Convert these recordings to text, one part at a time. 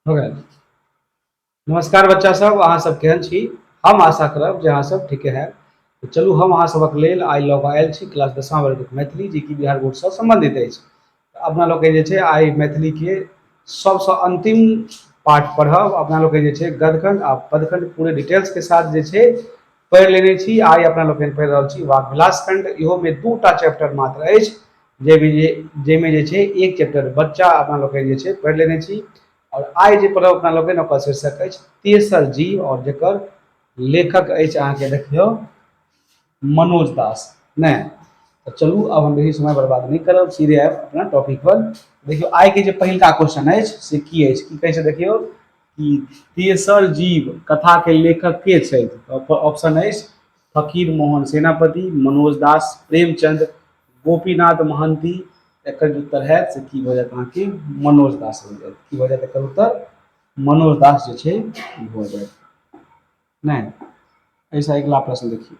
हो गेल नमस्कार बच्चा सब अहाँ सब केहन छी हम आशा करब जे अहाँ सब ठीके है तो चलू हम अहाँ सबक लेल आइ लऽ कऽ आयल छी क्लास दसमा वर्गक मैथिली जे कि बिहार बोर्डसँ सम्बन्धित अछि अपना लोकके जे छै आइ मैथिलीके सबसँ अन्तिम पाठ पढ़ब अपना लोकके जे छै गदखंड आ पदखंड पूरे डिटेल्सके साथ जे छै पढ़ि लेने छी आइ अपना लोकनि पढ़ि रहल छी वाक विलास खंड इहो में दू टा चैप्टर मात्र अछि जाहिमे जे जाहिमे जे छै एक चैप्टर बच्चा अपना लोकनि जे छै पढ़ि लेने छी आओर आइ जे पढ़ब अपना लोकनि ओकर शीर्षक अछि तेसर जीव आओर जकर लेखक अछि अहाँके देखियौ मनोज दास नहि तऽ चलू आब हम बेसी समय बर्बाद नहि करब सीधे आयब अपना टॉपिक पर देखियौ आइके जे पहिलका क्वेश्चन अछि से की अछि की कहै छै देखियौ कि तेसर जीव कथाके लेखक के छथि तऽ ऑप्शन अछि फकीर मोहन सेनापति मनोज दास प्रेमचंद गोपीनाथ महंती एकर जे उत्तर हैत से की भऽ जायत अहाँके मनोज दास भऽ जायत की भऽ जायत एकर उत्तर मनोज दास जे छै भऽ जायत नहि एहिसँ अगिला प्रश्न देखियौ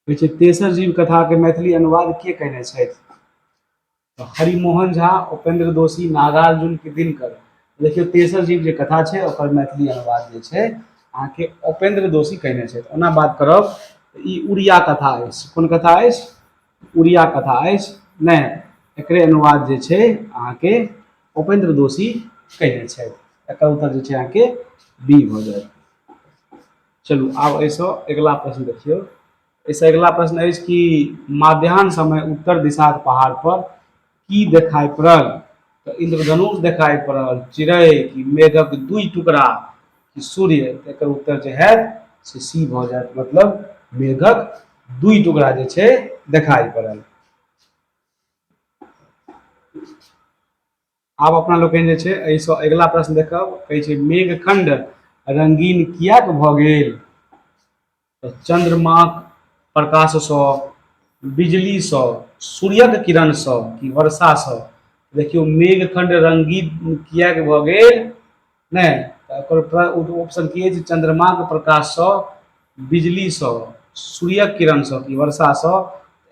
कहै छै तेसर जीव कथाके मैथिली अनुवाद के कयने छथि हरिमोहन झा उपेन्द्र दोषी नागार्जुन की दिनकर देखियौ तेसर जीव जे कथा छै ओकर मैथिली अनुवाद जे छै अहाँके उपेन्द्र दोषी कयने छथि ओना बात करब तऽ ई उड़िया कथा अछि कोन कथा अछि उड़िया कथा अछि नहि एकरे अनुवाद जे छै अहाँके उपेन्द्र दोषी कयने छथि एकर उत्तर जे छै अहाँके बी भऽ जायत चलू आब एहिसँ अगिला प्रश्न देखियौ एहिसँ अगिला प्रश्न अछि कि माध्यान्ह समय उत्तर दिशाक पहाड़ पर की देखाइ पड़ल तऽ इंद्रधनुष देखाइ पड़ल चिड़ै कि मेघक दुई टुकड़ा कि सूर्य तऽ एकर उत्तर जे हैत से सी भऽ जायत मतलब मेघक दुई टुकड़ा जे छै देखाइ पड़ल आब अपना लोकनि जे छै एहिसँ अगिला प्रश्न देखब कहै छै मेघखंड रंगीन किएक भऽ गेल तऽ चंद्रमाक प्रकाशसँ बिजलीसँ सूर्यक किरणसँ कि वर्षासँ देखियौ मेघखंड रंगीन किएक भऽ गेल नहि तऽ ओकर ऑप्शन की अछि चन्द्रमाके प्रकाशसँ बिजलीसँ सूर्यक किरणसँ कि वर्षासँ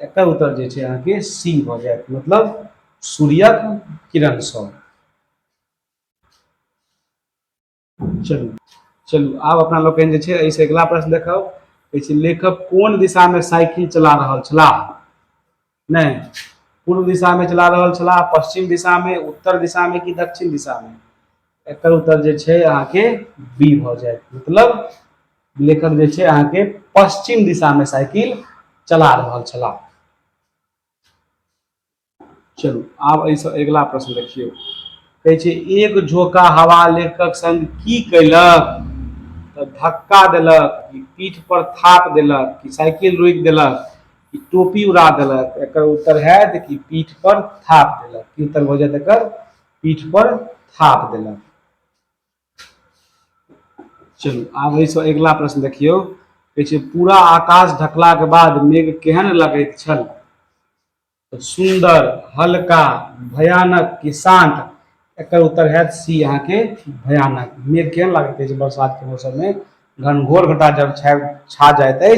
एकर उत्तर जे छै अहाँके सी भऽ जायत मतलब सूर्यक किरणसँ चलू चलू आब अपना लोकनि जे छै एहिसँ अगिला प्रश्न देखब कहै छै लेखक कोन दिशामे साइकिल चला रहल छलाह नहि पूर्व दिशामे चला रहल छलाह पश्चिम दिशामे उत्तर दिशामे कि दक्षिण दिशामे एकर उत्तर जे छै अहाँके बी भऽ जायत मतलब लेखक जे छै अहाँके पश्चिम दिशामे साइकिल चला रहल छलाह चलू आब एहिसँ अगिला प्रश्न देखियौ कहै छै एक झोंका हवा लेखक संग की कैलक तऽ धक्का देलक कि पीठ पर थाप देलक कि साइकिल रोकि देलक ई टोपी उड़ा देलक एकर उत्तर हैत कि पीठ पर थाप देलक की उत्तर भऽ जायत एकर पीठ पर थाप देलक चलू आब एहिसँ अगिला प्रश्न देखियौ कहै छै पूरा आकाश ढकलाक बाद मेघ केहन लगैत छल सुंदर हल्का भयानक कि शांत एकर उत्तर है सी यहाँ के भयानक मेघ केहन लगते अछि बरसात के मौसम में घनघोर घटा जब छा जाए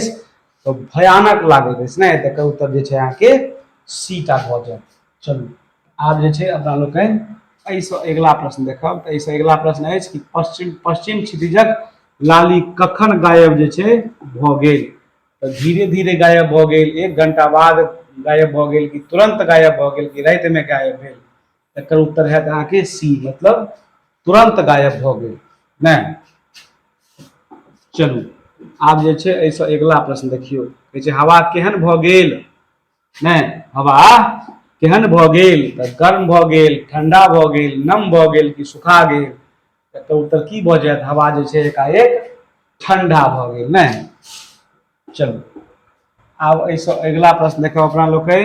तऽ भयानक लागैत अछि ने तऽ कहू तब जे छै अहाँके सीटा भऽ जायत चलू आब जे छै अपना लोकनि एहिसँ अगिला प्रश्न देखब तऽ एहिसँ अगिला प्रश्न अछि कि पश्चिम पश्चिम क्षितिजक लाली कखन गायब जे छै भऽ गेल तऽ धीरे धीरे गायब भऽ गेल एक घंटा बाद गायब भऽ गेल कि तुरंत गायब भऽ गेल कि रातिमे गायब भेल एकर उत्तर है अहाँ के सी मतलब तुरंत गायब भ गए नहीं चलू आब जे छै एहिसँ अगिला प्रश्न देखियो कहै छै हवा केहन भ गेल नहीं हवा केहन भ गेल त गर्म भ गेल ठंडा भ गेल नम भ गेल कि सुखा गेल एकर उत्तर की भ जायत हवा जे छै एकाएक ठंडा भ गेल नहीं चलू आब एहिसँ अगिला प्रश्न देखब अपना लोकनि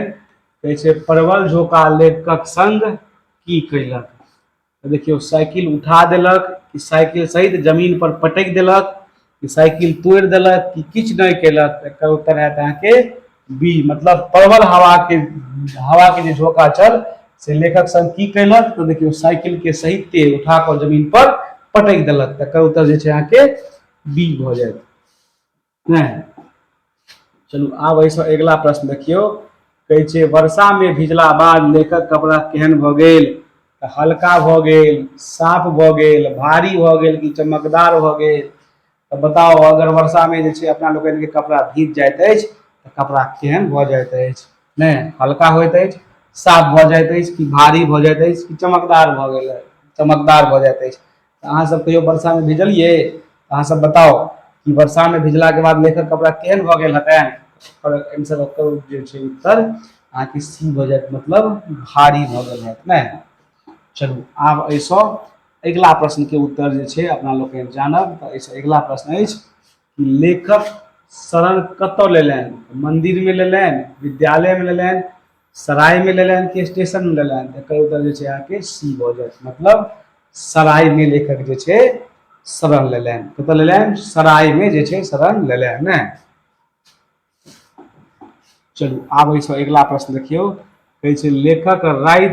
कहै छै परवल झोका लेखकक संग की कयलक तऽ देखियौ साइकिल उठा देलक कि साइकिल सहित जमीन पर पटकि देलक कि साइकिल तोड़ि देलक कि किछु नहि कयलक तऽ एकर उत्तर हैत अहाँके बी मतलब परवल हवाके हवाके जे झोका छल से लेखक संग की कयलक तऽ देखियौ साइकिलके सहिते उठा कऽ जमीन पर पटकि देलक तकर उत्तर जे छै अहाँके बी भऽ जायत नहि चलू आब एहिसँ अगिला प्रश्न देखियौ कहै छै वर्षामे भिजला बाद लेखक कपड़ा केहन भऽ गेल तऽ हल्का भऽ गेल साफ भऽ गेल भारी भऽ गेल कि चमकदार भऽ गेल तऽ बताउ अगर वर्षामे जे छै अपना लोकनिके कपड़ा भीज जाइत अछि तऽ कपड़ा केहन भऽ जाइत अछि नहि हल्का होइत अछि साफ भऽ जाइत अछि कि भारी भऽ जाइत अछि कि चमकदार भऽ गेल चमकदार भऽ जाइत अछि अहाँ सब कहियो वर्षा में भिजलियै अहाँ सब बताउ कि वर्षा में भिजला के बाद लेखक कपड़ा केहन भऽ गेल हेतै पर एम सब ओकर जे छै उत्तर अहाँ के सी भऽ जायत मतलब भारी भऽ गेल हेत नै चलू आब एहिसँ अगिला प्रश्न के उत्तर जे छै अपना लोकनि जानब तऽ एहिसँ अगिला प्रश्न अछि लेखक शरण कतऽ लेलनि मन्दिरमे लेलनि विद्यालयमे लेलनि सरायमे लेलनि कि स्टेशनमे लेलनि तऽ एकर उत्तर जे छै अहाँके सी भऽ जायत मतलब सरायमे लेखक जे छै शरण लेलनि कतऽ लेलनि सरायमे जे छै शरण लेलनि चलू आब एहिसँ अगिला प्रश्न देखियौ कहै छै लेखक राति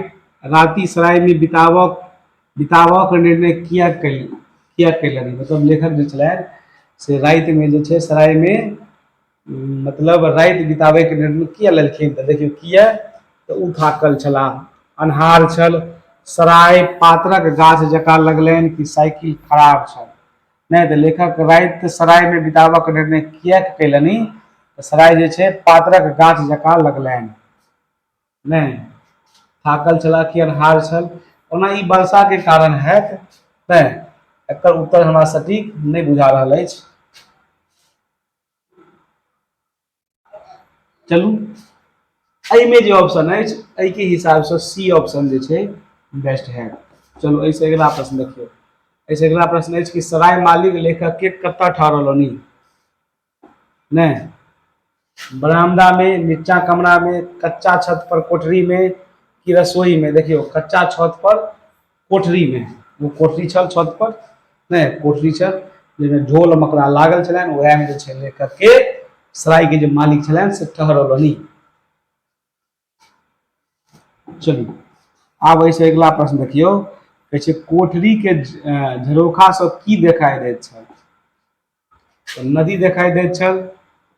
राति सरायमे बिताबक बिताबक निर्णय किया कल किया कयलनि मतलब लेखक जे छलै से रातिमे जे छै सरायमे मतलब राति बिताबैके निर्णय किया लेलखिन तऽ देखियौ किया तऽ ओ थाकल छलाह अन्हार छल सराय पात्रक गाछ जकाँ लगलनि कि साइकिल खराब छल नहि तऽ लेखक राति सरायमे बिताबक निर्णय किएक कयलनि तऽ सराय जे छै पातरक गाछ जकाँ लगलनि नहि थाकल छलाह कि अन्हार छल ओना ई वर्षाके कारण हैत तैं एकर उत्तर हमरा सटीक नहि बुझा रहल अछि चलू एहिमे जे ऑप्शन अछि एहिके हिसाबसँ सी ऑप्शन जे छै बेस्ट है चलू एहिसँ अगिला प्रश्न देखियौ एहिसँ अगिला प्रश्न अछि कि सराय मालिक लेखक के कतऽ ठहरौलनि नहि बरामदा में नीचा कमरा में कच्चा छत पर कोठरी में कि रसोई में देखियो कच्चा छत पर कोठरीमे ओ कोठरी छल छत पर नहि कोठरी छल जाहिमे ढोल मकड़ा लागल छलनि ओएहमे जे छै लेकर के सरायके जे मालिक छलनि से ठहरौलनि चलू आब एहिसँ अगिला प्रश्न देखियौ कहै छै कोठरीके झरोखासँ की देखाइ दैत छल नदी देखाई दे छल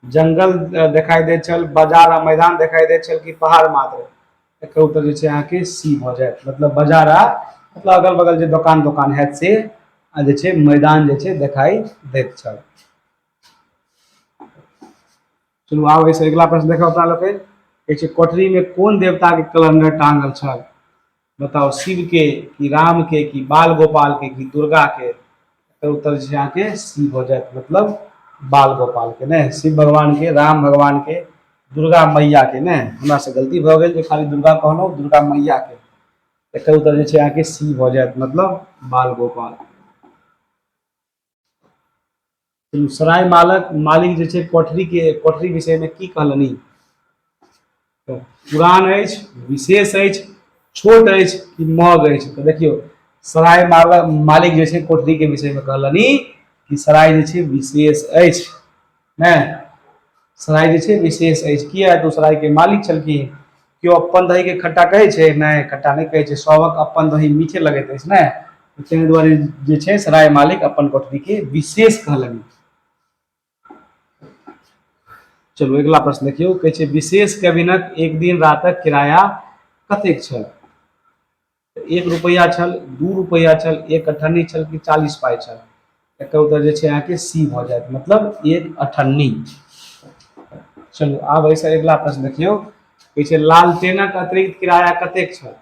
जंगल देखाई दे छल बाजार आ मैदान देखाई दे छल कि पहाड़ मात्र एक उत्तर जे अहाँ के सी भ जाए मतलब बाजार आ मतलब अगल बगल जो दुकान दुकान है से जे मैदान जे देखाई दे छल चलू आब एहिसँ अगिला प्रश्न देखब अपना लोग कोठरी में कौन देवता के कैलेंडर टांगल छल बताउ शिव के कि राम के कि बाल गोपाल के कि दुर्गा के तो उत्तर जे अहाँके सी भऽ जायत मतलब बाल गोपाल के ने शिव भगवान के राम भगवान के दुर्गा मैया के ने हमरा से गलती भऽ गेल जे खाली दुर्गा कहलहुँ दुर्गा मैया के एकर उत्तर जे छै अहाँके सी भऽ जायत मतलब बाल गोपाल सराय मालक मालिक जे छै कोठरी के कोठरी विषय में की कहलनि तऽ पुरान अछि विशेष अछि छोट अछि कि मग अछि तऽ देखियौ सराय मालक मालिक जे छै कोठरी के विषय में कहलनि कि सराय जे छै विशेष अछि ने सराय जे छै विशेष अछि किया तऽ सरायके मालिक छलखिन केओ अपन दहीके खट्टा कहै छै नहि खट्टा नहि कहै छै सभक अपन दही मीठे लगैत अछि ने ताहि दुआरे जे छै सराय मालिक अपन कोठरीके विशेष कहलनि चलू अगिला प्रश्न देखियौ कहै छै विशेष कैबिनक एक दिन रातक किराया कतेक छल एक रुपैआ छल दू रुपैआ छल एक अठन्नी छल कि चालीस पाइ छल एकर उत्तर जे छै अहाँके सी भऽ जायत मतलब एक अठन्नी चलू आब एहिसँ अगिला प्रश्न देखियौ कहै छै लालटेनक अतिरिक्त किराया कतेक छल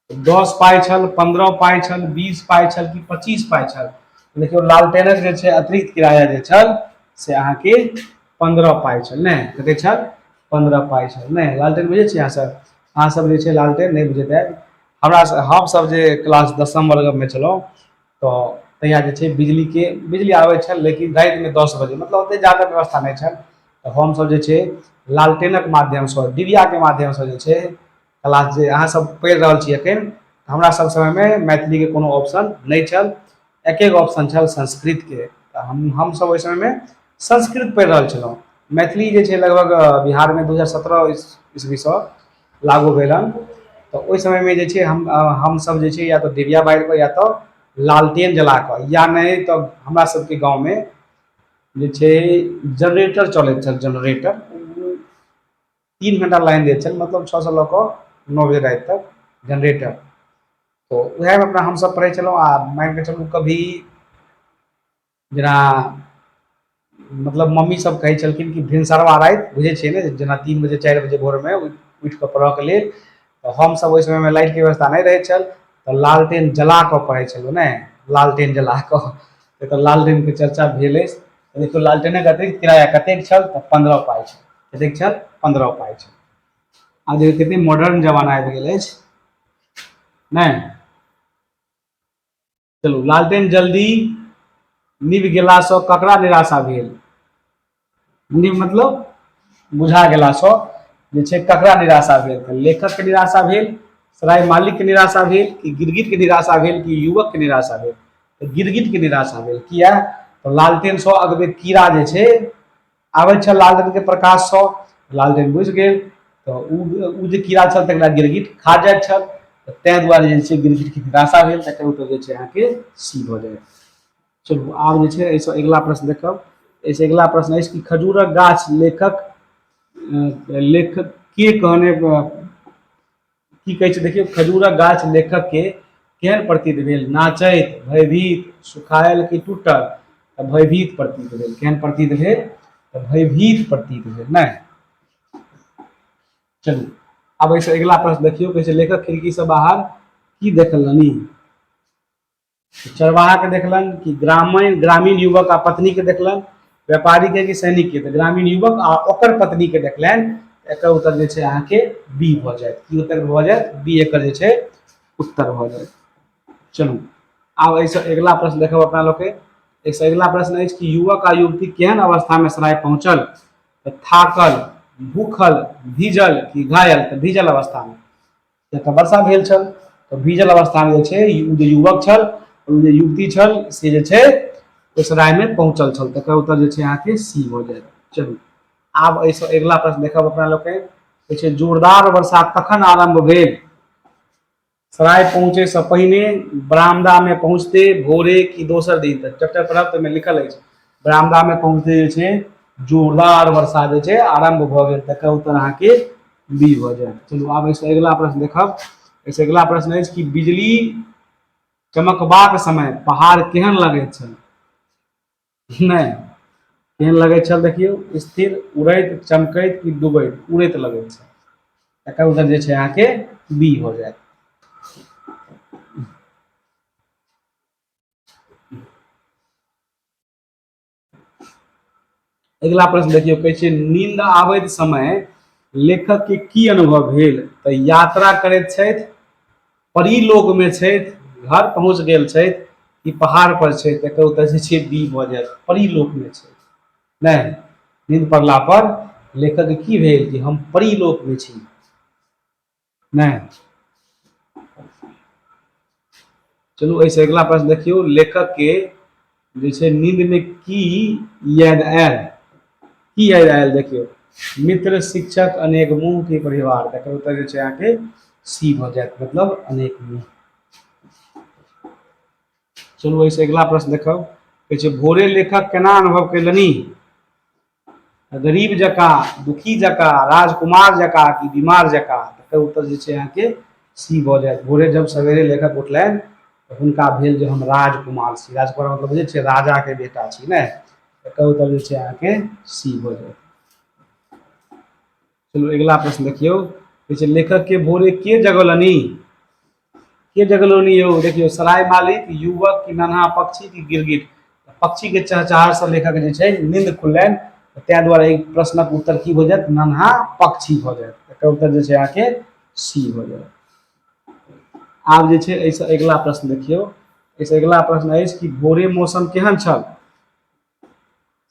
दस पाइ छल पंद्रह पाइ छल बीस पाइ छल कि पच्चीस पाइ छल देखियौ लालटेनक जे छै अतिरिक्त किराया जे छल से अहाँके पन्द्रह पाइ छल नहि कते छल पन्द्रह पाइ छल नहि लालटेन बुझै छियै अहाँ सब अहाँ सब जे छै लालटेन नहि बुझैत आयब हमरा स- हम सब जे क्लास दसम वर्ग मे छलहुँ तऽ तहिया जे छै बिजली के बिजली आबै छल लेकिन राति मे दस बजे मतलब ओते जादा व्यवस्था नहि छल तऽ हम सब जे छै लालटेनक माध्यम सँ डिबिया के माध्यम सँ जे छै क्लास जे अहाँ सब पढ़ि रहल छी एखन हमरा सब समय मे मैथिली के कोनो ऑप्शन नहि छल एके गो ऑप्शन छल संस्कृत के तऽ हम हमसब ओहि समय मे संस्कृत पढ़ि रहल छलहुॅं मैथिली जे छै लगभग बिहार मे दू हजार सत्रह इस इसवी सँ लागू भेल हन तऽ ओहि समय मे जे छै हम हमसब जे छै या तऽ डिबिया बाइर पर या तऽ लालटेन जला कऽ या नहि तऽ हमरा सबके गाँव मे जे छै जनरेटर चलैत छल जनरेटर तीन घंटा लाइन दै छल मतलब छओ से लऽ कऽ नओ बजे राति तक जनरेटर तऽ उएहमे अपना हमसभ पढ़ै छलहुँ आ मानि कऽ चलू कभी जेना मतलब मम्मी सब कहै छलखिन कि भिनसरवा राति बुझै छियै ने जेना तीन बजे चारि बजे भोरमे उठि कऽ पढ़ऽके लेल तऽ हमसभ ओहि समयमे लाइटके व्यवस्था नहि रहै छल तऽ लालटेन जला कऽ पढ़ै छलहुँ ने लालटेन जला कऽ एतय लालटेनके चर्चा भेल अछि देखियौ लालटेनक अतिरिक्त किराया कतेक छल तऽ पन्द्रह पाइ छल कतेक छल पन्द्रह पाइ छल आब देखियौ कतेक मॉडर्न जमाना आबि गेल अछि नहि चलू लालटेन जल्दी निभ गेलासँ ककरा निराशा भेल निभ मतलब बुझा गेलासँ जे छै ककरा निराशा भेल तऽ लेखकके निराशा भेल सराय मालिकके निराशा भेल कि गिरगिटके निराशा भेल कि युवकके निराशा भेल गिरगिटके निराशा भेल किया तऽ लालटेनसँ अगबे कीड़ा जे छै आबै छल लालटेनके प्रकाशसँ लालटेन बुझि गेल तऽ ओ जे कीड़ा छल तकरा गिरगिट खा जाइ छल तऽ ताहि दुआरे जे छै गिरगिटके निराशा भेल तकर उत्तर जे छै अहाँके सी भऽ जायत चलू आब जे छै एहिसँ अगिला प्रश्न देखब एहिसँ अगिला प्रश्न अछि कि खजूरक गाछ लेखक लेखक के कहने की कहै छै देखियौ खजूरक गाछ लेखक के केहन प्रतीत भेल नाचैत भयभीत सुखायल कि टूटल तऽ भयभीत प्रतीत भेल केहन प्रतीत भेल तऽ भयभीत प्रतीत भेल नहि चलू आब एहिसँ अगिला प्रश्न देखियौ कहै छै लेखक खिड़कीसँ बाहर की देखलनि चरवाहा के देखलन कि ग्रामीण ग्रामीण युवक आ पत्नी के देखलन व्यापारी के कि सैनिक के तऽ ग्रामीण युवक आ ओकर पत्नी के देखलन एकर उत्तर जे छै अहाँके बी भऽ जायत की उत्तर भऽ जायत बी एकर जे छै उत्तर भऽ जायत चलू आब एहिसँ अगिला प्रश्न देखब अपना लोग के एहिसँ अगिला प्रश्न अछि कि युवक आ युवती केहन अवस्था में सराय पहुंचल तऽ थाकल भूखल भीजल कि घायल तऽ भीजल अवस्था में जखन वर्षा भेल छल तऽ भीजल अवस्थामे जे छै ओ जे युवक छल ओ जे युवती छल से जे छै ओहि सरायमे पहुँचल छल तकर उत्तर जे छै अहाँके सी भऽ जायत चलू आब एहिसँ अगिला प्रश्न देखब अपना लोकनि जे छै जोरदार वर्षा कखन आरम्भ भेल सराय पहुँचैसँ पहिने बरामदामे पहुँचते भोरे कि दोसर दिन तक चैप्टर पढ़ब तऽ ओहिमे लिखल अछि बरामदामे पहुँचते जे छै जोरदार वर्षा जे छै आरम्भ भऽ गेल तकर उत्तर अहाँके बी भऽ जायत चलू आब एहिसँ अगिला प्रश्न देखब एहिसँ अगिला प्रश्न अछि कि बिजली चमकबाक समय पहाड़ केहन लगैत छल नहि केहन लगैत छल देखियौ स्थिर उड़ैत चमकैत कि डूबैत उड़ैत लगैत छल तकर उत्तर जे छै अहाँके बी भऽ जायत अगिला प्रश्न देखियौ कहै छै नींद आबैत समय लेखक के की अनुभव भेल तऽ यात्रा करैत छथि परीलोक में छथि घर पहुंच गेल छथि कि पहाड़ पर छथि एकर उत्तर जे छै बी भऽ जायत परीलोक में छथि नहि नींद पड़ला पर लेखक के की भेल कि हम परीलोक में छी नहि चलू एहिसँ अगिला प्रश्न देखियौ लेखकके जे छै नींदमे की याद आयल की याद आयल देखियौ मित्र शिक्षक अनेक मुंह के परिवार तकर उत्तर जे छै अहाँके सी भऽ जायत मतलब अनेक मुंह चलू एहिसँ अगिला प्रश्न देखब कहै छै भोरे लेखक केना अनुभव कयलनि गरीब जकाँ दुखी जकाँ राजकुमार जकाँ कि बीमार जकाँ तकर उत्तर जे छै अहाँके सी भऽ जायत भोरे जब सवेरे लेखक उठलनि तऽ हुनका भेल जे हम राजकुमार छी राजकुमार मतलब बुझै छियै राजाके बेटा छी नहि तकर उत्तर जे छै अहाँके सी भऽ जायत चलू अगिला प्रश्न देखियौ कहै छै लेखक के भोरे के जगलनि के जगलनि यौ देखियौ सराय मालिक युवक की नन्हा पक्षी की गिरगिट पक्षी के चहचहार से लेखक जे छै नींद खुललनि ताहि दुआरे एहि प्रश्नक उत्तर की भऽ जायत नन्हा पक्षी भऽ जायत एकर उत्तर जे छै अहाँके सी भऽ जायत आब जे छै एहिसँ अगिला प्रश्न देखियौ एहिसँ अगिला प्रश्न अछि कि भोरे मौसम केहन छल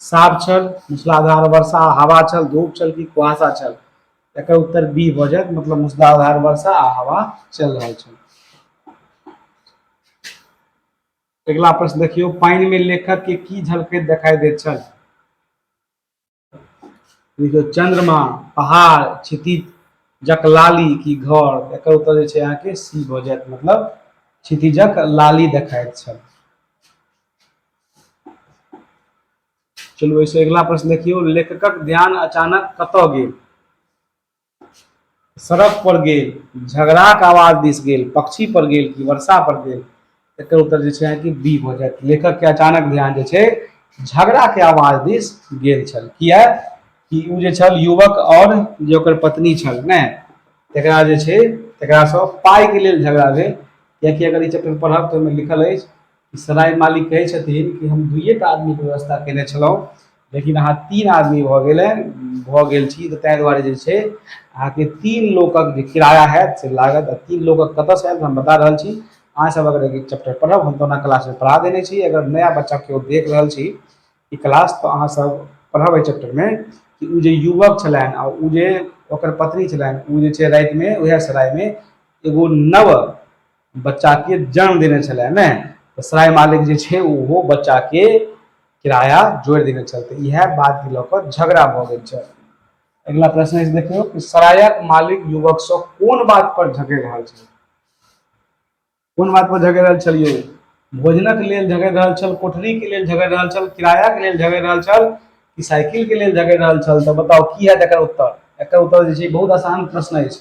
साफ छल मूसलाधार वर्षा आ हवा छल धूप छल कि कुहासा छल एकर उत्तर बी भऽ जायत मतलब मूसलाधार वर्षा आ हवा चलि रहल छल अगिला प्रश्न देखियौ पानिमे लेखकके की झलकैत देखाइ दैत छल देखियौ चन्द्रमा पहाड़ क्षितिज जक लाली की घर एकर उत्तर जे छै अहाँके सी भऽ जायत मतलब क्षितिजक लाली देखाइत छल चलू एहिसँ अगिला प्रश्न देखियौ लेखकक ध्यान अचानक कतऽ गेल सड़क पर गेल झगड़ाक आवाज दिस गेल पक्षी पर गेल कि वर्षा पर गेल एकर उत्तर जे छै अहाँके बी भऽ जायत लेखक के अचानक ध्यान जे छै झगड़ा के आवाज दिस गेल छल किया कि ओ जे छल युवक और जे ओकर पत्नी छल ने तकरा जे छै तकरासँ पाइके लेल झगड़ा भेल कियाकि अगर ई चैप्टर पढ़ब तऽ ओहिमे लिखल अछि सराय मालिक कहै छथिन कि हम दुइए टा आदमीके व्यवस्था कयने छलहुँ लेकिन अहाँ तीन आदमी भऽ गेल भऽ गेल छी तऽ ताहि दुआरे जे छै अहाँके तीन लोकक जे किराया हैत से लागत आ तीन लोकक कतयसँ आयत हम बता रहल छी अहाँसभ अगर ई चैप्टर पढ़ब हम तऽ ओना क्लासमे पढ़ा देने छी अगर नया बच्चा केओ देख रहल छी ई क्लास तऽ अहाँसभ पढ़ब एहि चैप्टरमे कि ओ जे युवक छलनि आ ओ जे ओकर पत्नी छलनि ओ जे छै रातिमे उएह सरायमे एगो नव बच्चाके जन्म देने छलै ने तऽ सराय मालिक जे छै ओहो बच्चाके किराया जोड़ि देने छल तऽ इएह बातके लऽ कऽ झगड़ा भऽ गेल छल अगिला प्रश्न अछि देखियौ कि सरायक मालिक युवकसँ कोन बात पर झगड़ि रहल छल कोन बात पर झगड़ि रहल छल यौ भोजनक लेल झगड़ि रहल छल कोठरीके लेल झगड़ि रहल छल किरायाके लेल झगड़ि रहल छल कि साइकिलके लेल झगड़ि रहल छल तऽ बताउ की हैत एकर उत्तर एकर उत्तर जे छै बहुत आसान प्रश्न अछि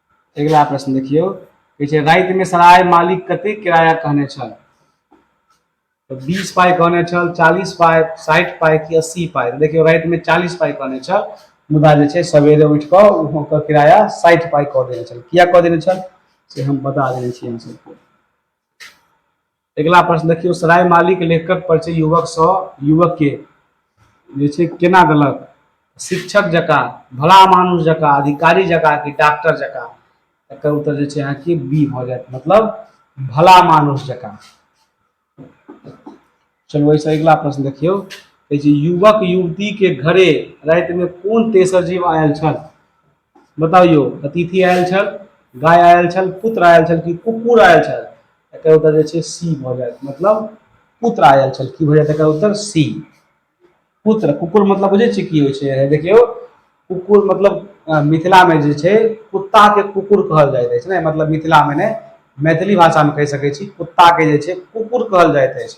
अगिला प्रश्न देखियौ कहै छै रातिमे सराय मालिक कते किराया कहने छल तऽ बीस पाइ कहने छल चालीस पाइ साठि पाइ कि अस्सी पाइ देखियौ रातिमे चालीस पाइ कहने छल मुदा जे छै सवेरे उठि कऽ ओकर किराया साठि पाइ कऽ देने छल किया कऽ देने छल से हम बता देने छी अहाँ सबके अगिला प्रश्न देखियौ सराय मालिक लेखकक परिचय युवकसँ युवकके जे छै केना देलक शिक्षक जकाँ भला मानुष जकाँ अधिकारी जकाँ कि डॉक्टर जकाँ एकर उत्तर जे छै अहाँके बी भऽ जायत मतलब भला मानुष जकाँ चलू एहिसँ अगिला प्रश्न देखियौ कहै छै युवक युवतीके घरे रातिमे कोन तेसर जीव आयल छल बताउ यौ अतिथि आयल छल गाय आयल छल पुत्र आयल छल कि कुकुर आयल छल एकर उत्तर जे छै सी भऽ जायत मतलब पुत्र आयल छल की भऽ जायत एकर उत्तर सी पुत्र कुकुर मतलब बुझै छियै की होइ छै देखियौ कुकुर मतलब मिथिलामे जे छै कुत्ताके कुकुर कहल जाइत अछि ने मतलब मिथिलामे ने मैथिली भाषामे कहि सकै छी कुत्ताके जे छै कुकुर कहल जाइत अछि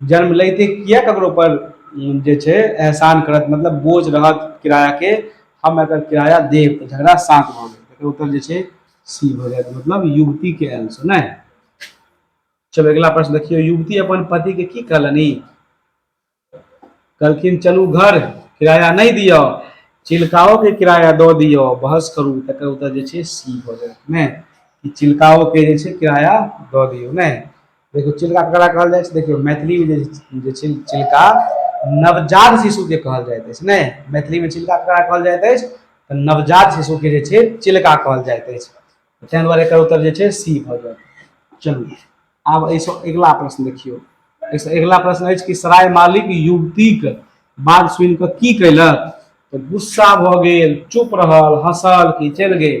जन्म लैते किया ककरो पर जे छै एहसान करत मतलब बोझ रहत किरायाके हम अगर किराया देब तऽ झगड़ा शान्त भऽ गेल एकर उत्तर जे छै सी भऽ जायत मतलब युवतीके आंसर नहि चलो अगला प्रश्न देखियो युवती अपन पति के की कहलनि कहलखिन चलू घर किराया नहीं दियो चिलकाओ के किराया दो दियो बहस करू तकर उत्तर जे छै सी भऽ जायत नहि चिलकाओ के जे छै किराया दऽ दियौ नहि देखियौ चिलका ककरा कहल जाइ छै देखियौ मैथिलीमे जे छै चिलका नवजात शिशुके कहल जाइत अछि नहि मैथिलीमे चिलका ककरा कहल जाइत अछि तऽ नवजात शिशुके जे छै चिलका कहल जाइत अछि ताहि दुआरे एकर उत्तर जे छै सी भऽ जायत चलू आब एहिसँ अगिला प्रश्न देखियौ एहिसँ अगिला प्रश्न अछि कि सराय मालिक युवतीक बात सुनि कऽ की कयलक तऽ गुस्सा भऽ गेल चुप रहल हँसल कि चलि गेल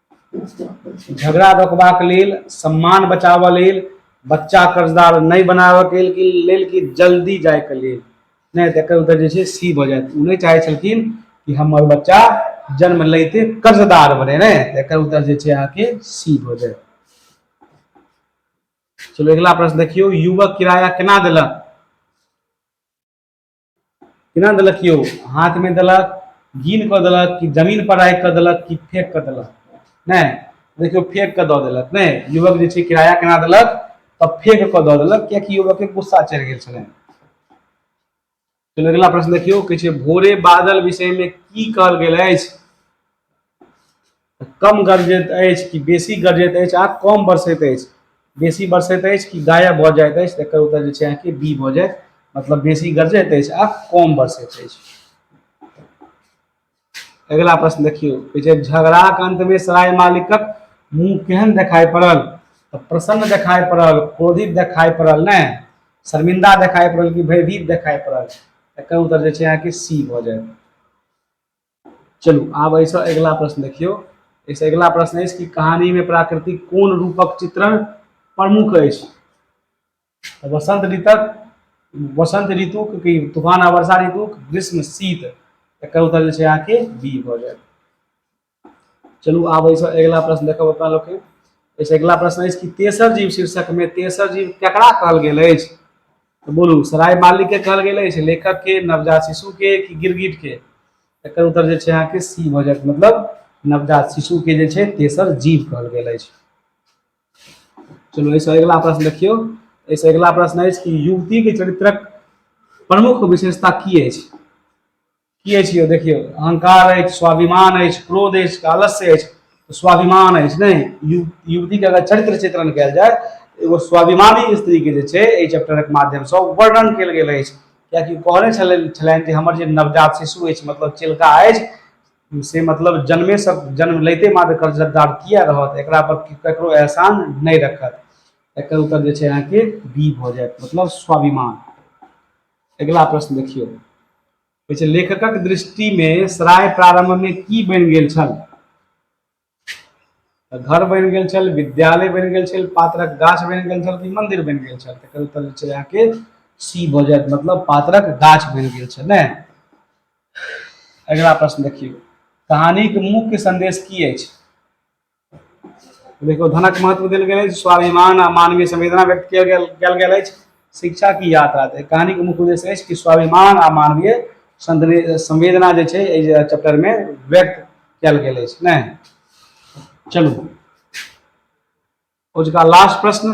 झगड़ा रोकबाक लेल सम्मान बचाबऽ लेल बच्चा कर्जदार नहि बनाबऽके लेल कि जल्दी जायके लेल नहि तऽ एकर उतर जे छै सी भऽ जायत ओ नहि चाहै छलखिन कि हमर बच्चा जन्म लैते कर्जदार बने ने एकर उतर जे छै अहाँके सी भऽ जायत चलो अगला प्रश्न देखियो युवक किराया केना दिलक केना देलक यौ हाथमे देलक गिन कऽ देलक कि जमीन पर राखि कऽ देलक कि फेंक कऽ देलक नहि देखियौ फेंक कऽ दऽ देलक नहि युवक जे छै किराया केना देलक तऽ फेंक कऽ दऽ देलक कियाकि युवकके गुस्सा चढ़ि गेल छलनि चलू अगिला प्रश्न देखियौ कहै छै भोरे बादल विषयमे की कहल गेल अछि कम गरजैत अछि कि बेसी गरजैत अछि आ कम बरसैत अछि बेसी बरसैत अछि कि गायब भऽ जाइत अछि तऽ एकर उत्तर जे छै अहाँके बी भऽ जायत मतलब बेसी गरजैत अछि आ कम बरसैत अछि अगिला प्रश्न देखियौ कहै छै झगड़ाक अन्तमे सराय मालिकक मुंह केहन देखाइ पड़ल तऽ प्रसन्न देखाइ पड़ल क्रोधित देखाइ पड़ल ने शर्मिंदा देखाइ पड़ल कि भयभीत देखाइ पड़ल एकर उत्तर जे छै अहाँके सी भऽ जायत चलू आब एहिसँ अगिला प्रश्न देखियौ एहिसँ अगिला प्रश्न अछि कि कहानीमे प्राकृतिक कोन रूपक चित्रण प्रमुख अछि तऽ वसंत ऋतक वसंत ऋतुक कि तूफान आ वर्षा ऋतुक ग्रीष्म शीत एकर उत्तर जे छै अहाँके बी भऽ जायत चलू आब एहिसँ अगिला प्रश्न देखब अपना लोकके एहिसँ अगिला प्रश्न अछि कि तेसर जीव शीर्षकमे तेसर जीव केकरा कहल गेल अछि बोलू सराय मालिक के कहल गेल अछि लेखक के नवजात शिशु के कि गिरगिट के एकर उत्तर जे छै अहाँके सी भऽ जायत मतलब नवजात शिशु के जे छै तेसर जीव कहल गेल अछि चलू एहिसँ अगिला प्रश्न देखियौ एहिसँ अगिला प्रश्न अछि कि युवती के चरित्रक प्रमुख विशेषता की अछि की अछि यौ देखियौ अहंकार अछि स्वाभिमान अछि क्रोध अछि कालस्य अछि तो स्वाभिमान अछि ने यु, युवती के अगर चरित्र चित्रण कयल जाय एगो स्वाभिमानी स्त्री के जे छै एहि चैप्टरक माध्यम से वर्णन कयल गेल अछि कियाकि कहने छलनि छलनि जे हमर जे नवजात शिशु अछि मतलब चिलका अछि से मतलब जन्मे सब जन्म लैते मात्र कर्जदार किया रहत एक पर ककरो एहसान नहीं रखत एक उत्तर जे अहाँ के बी भ जाए मतलब स्वाभिमान अगिला प्रश्न देखियौ कहै छै लेखकक दृष्टिमे सराय प्रारंभमे की बनि गेल छल घर बनि गेल छल विद्यालय बनि गेल छल पात्रक गाछ बनि गेल छल कि मंदिर बनि गेल छल तकर उत्तर छै अहाँके सी भऽ जायत मतलब पात्रक गाछ बनि गेल छल ने अगिला प्रश्न देखियौ कहानीक मुख्य संदेश की अछि देखियौ धनक महत्व देल गेल अछि स्वाभिमान आ मानवीय संवेदना व्यक्त कयल गेल कयल गेल अछि शिक्षा की यात्रा तऽ कहानी के मुख्य उद्देश्य अछि कि स्वाभिमान आ मानवीय संदने- संवेदना जे छै एहि चैप्टर में व्यक्त कयल गेल अछि नहि चलू ओजुका लास्ट प्रश्न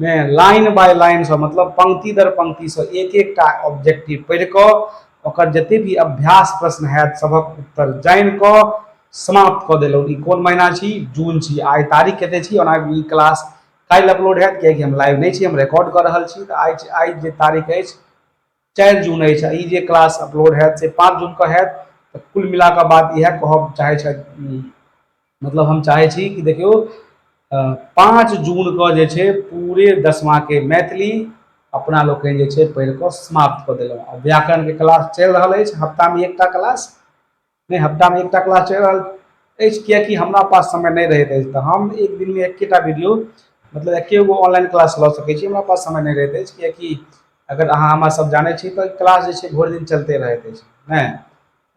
मे लाइन बाय लाइनसँ मतलब पंक्ति दर पंक्तिसँ एक एकटा ऑब्जेक्टिव पढ़ि कऽ ओकर जते भी अभ्यास प्रश्न हैत सभक उत्तर जानि कऽ समाप्त कऽ देलहुँ ई कोन महीना छी जून छी आइ तारीख कते छी ओना ई क्लास काल्हि अपलोड हैत किएकि हम लाइव नहि छी हम रिकॉर्ड कऽ रहल छी तऽ आइ आइ जे तारीख अछि चारि जून अछि ई जे क्लास अपलोड हैत से पाँच जूनके हैत तऽ कुल मिलाके बात इएह कहब चाहै छथि मतलब हम चाहै छी कि देखियौ पाँच जूनके जे छै पूरे दसमाके मैथिली अपना लोकनि जे छै पढ़ि कऽ समाप्त कऽ देलहुँ आ व्याकरणके क्लास चलि रहल अछि हफ्तामे एकटा क्लास नहि हप्तामे एकटा क्लास चलि रहल अछि किएकि हमरा पास समय नहि रहैत अछि तऽ हम एक दिनमे एकेटा वीडियो मतलब एके गो ऑनलाइन क्लास लऽ सकै छी हमरा पास समय नहि रहैत अछि किएकि अगर अहाँ हमरा सब जानै छी तऽ क्लास जे छै भरि दिन चलिते रहैत अछि नहि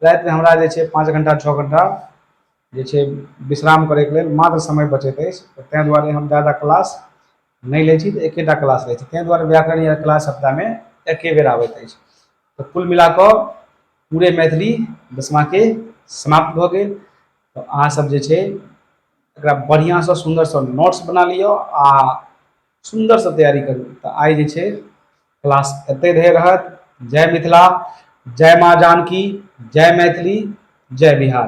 रातिमे हमरा जे छै पाँच घण्टा छओ घण्टा जे छै विश्राम करैके लेल मात्र समय बचैत अछि तऽ तै दुआरे हम जादा क्लास नहि लै छी तऽ एकेटा क्लास लै छी ताहि दुआरे व्याकरण या क्लास सप्ताहमे एके बेर आबैत अछि तऽ कुल मिला कऽ पूरे मैथिली दसमाके समाप्त भऽ गेल तऽ अहाँसभ जे छै एकरा बढ़िआँसँ सुन्दरसँ नोट्स बना लिअ आ सुन्दरसँ तैयारी करू तऽ आइ जे छै क्लास एतहि धरि रहत जय मिथिला जय माँ जानकी जय मैथिली जय बिहार